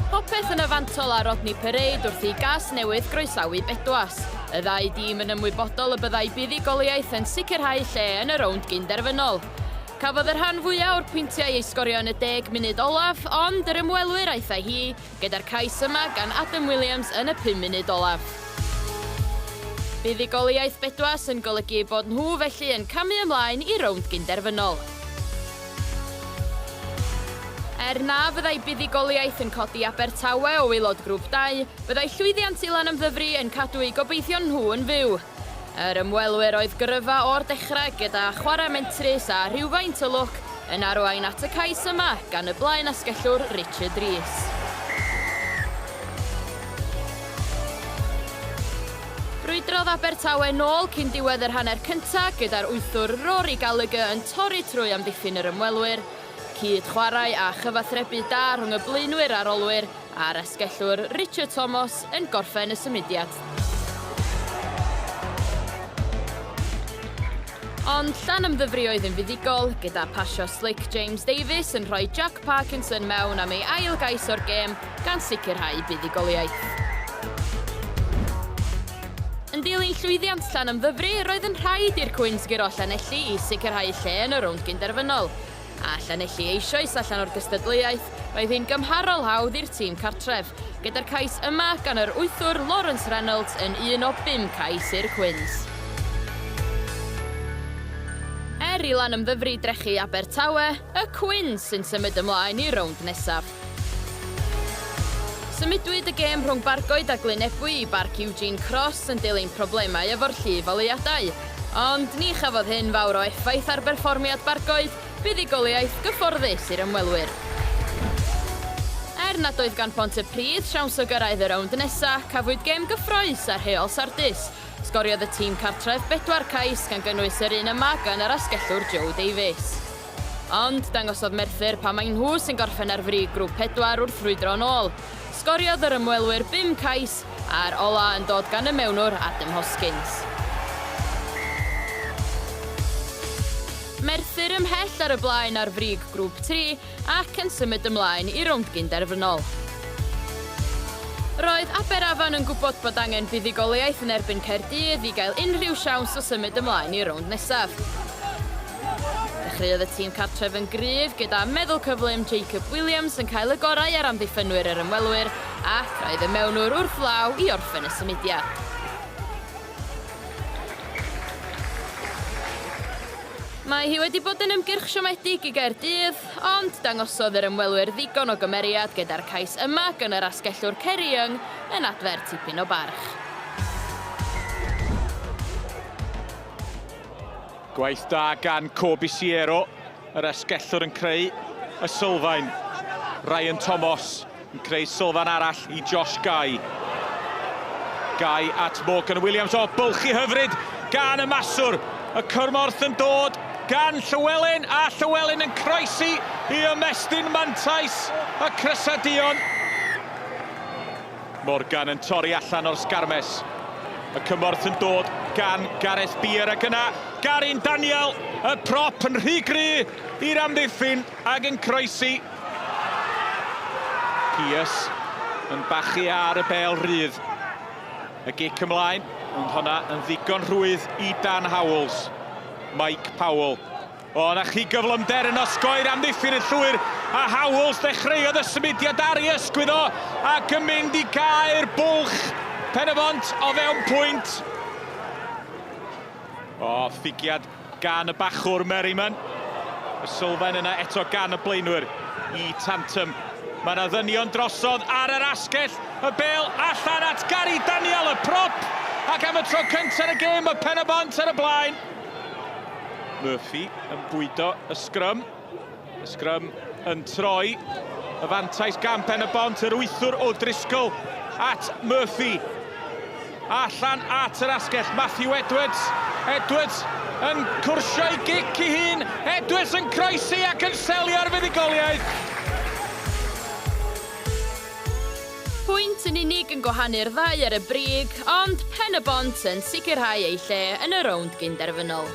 Popeth yn y fantol a Rodney Parade wrth i gas newydd groesawu Bedwas. Y ddau dîm yn ymwybodol y byddai buddugoliaeth yn sicrhau lle yn y rownd gynderfynol. Cafodd y rhan fwyaf o'r pwyntiau ei sgorio yn y deg munud olaf, ond yr ymwelwyr aethai hi gyda'r cais yma gan Adam Williams yn y pum munud olaf. Buddugoliaeth bedwas yn golygu eu bod nhw felly yn camu ymlaen i rownd gyn-derfynol. Er na fyddai buddugoliaeth yn codi Abertawe o waelod Grŵp Dau, byddai llwyddiant Ilan am Ddyfri yn cadw eu gobeithion nhw yn fyw. Yr ymwelwyr oedd gyrfa o'r dechrau gyda chwarae mentrus a rhywfaint o lwc yn arwain at y cais yma gan y blaenasgellwr Richard Rees. Brwydrodd Abertawe nôl cyn diwedd yr hanner cyntaf gyda'r wythwr Rory Gallagher yn torri trwy amddiffyn yr ymwelwyr Cyd-chwarae a chyfathrebu da rhwng y blaenwyr a'r olwyr, a'r asgellwr Richard Thomas yn gorffen y symudiad. Ond Llanymddyfri oedd yn fuddugol, gyda phasio slic James Davies yn rhoi Jack Parkinson mewn am ei ail gais o'r gêm gan sicrhau buddugoliaeth. Yn dilyn llwyddiant Llanymddyfri, roedd yn rhaid i'r Cwins guro Llanelli i sicrhau lle yn y rownd gynderfynol. A Llanelli eisoes allan o'r gystadleuaeth, roedd hi'n gymharol hawdd i'r tîm cartref, gyda'r cais yma gan yr wythwr Lawrence Reynolds yn un o bum cais i'r Cwins. Er i Lanymddyfri drechu Abertawe, y Cwins sy'n symud ymlaen i'r rownd nesaf. Symudwyd y gêm rhwng Bargoed a Glyn Ebwy i Barc Eugene Cross yn dilyn problemau efo'r llif oleuadau. Ond ni chafodd hyn fawr o effaith ar berfformiad Bargoed, buddugoliaeth gyfforddus i'r ymwelwyr. Er nad oedd gan Pontypridd siawns o gyrraedd y rownd nesa', cafwyd gêm gyffrous a rheol sardus. Sgoriodd y tîm cartref bedwar cais, gan gynnwys yr un yma gan yr asgellwr Joe Davies. Ond dangosodd Merthyr pam mai nhw sy'n gorffen ar frig Grŵp 4 wrth frwydro yn ôl. Sgoriodd yr ymwelwyr bum cais, a'r ola' yn dod gan y mewnwr Adam Hoskins. Merthyr ymhell ar y blaen ar frig Grŵp 3 ac yn symud ymlaen i rownd gyn-derfynol. Roedd Aberafan yn gwybod bod angen buddugoliaeth yn erbyn Caerdydd i gael unrhyw siawns o symud ymlaen i'r rownd nesaf. Dechreuodd y tîm cartref yn gryf gyda meddwl cyflym Jacob Williams yn cael y gorau ar amddiffynwyr yr ymwelwyr ac roedd y mewnwr wrth law i orffen y symudiad. Mae hi wedi bod yn ymgyrch siomedig i Gaerdydd, ond dangosodd yr ymwelwyr ddigon o gymeriad gyda'r cais yma gan yr asgellwr Ceri Young yn adfer tipyn o barch. Gwaith da gan Coby Siero, yr asgellwr yn creu y sylfaen. Ryan Tomos yn creu sylfaen arall i Josh Guy. Guy at Morgan Williams, o bylchu hyfryd gan y maswr. Y cyrmorth yn dod gan Llywelyn a Llywelyn yn croesi i ymestyn mantais y Crysadion. Morgan yn torri allan o'r sgarmes. Y cymorth yn dod gan Gareth Beer ac yna Garyn Daniel, y prop yn rhy gry i'r amddiffyn ag yn croesi. Peers yn bachu ar y bel rydd. Y gic ymlaen, ond honna yn ddigon rhwydd i Dan Howells. Mike Powell. O, 'na chi gyflymder yn osgoi'r amddiffyn yn llwyr, a Howells ddechreuodd y symudiad ar ei ysgwydd o, ac yn mynd i gau'r bwlch Pen-y-bont o fewn pwynt. O, ffigiad gan y bachwr Merriman. Y sylfaen yna eto gan y blaenwyr i Tantum. Mae yna ddynion drosodd ar yr asgell, y bel allan at Gary Daniel, y prop, ac am y tro cyntaf yn y gêm mae Pen-y-bont ar y blaen. Murphy yn bwydo y sgrym. Y sgrym yn troi. Y fantais gan Pen y Bont, yr wythwr o Driscoll at Murphy. Allan at yr asgell, Matthew Edwards. Edwards yn cwrsio i gic i hun. Edwards yn croesi ac yn selio ar fuddugoliaeth. Pwynt yn unig yn gwahanu'r ddau ar y brig, ond Pen-y-bont yn sicrhau eu lle yn y rownd gyn-derfynol.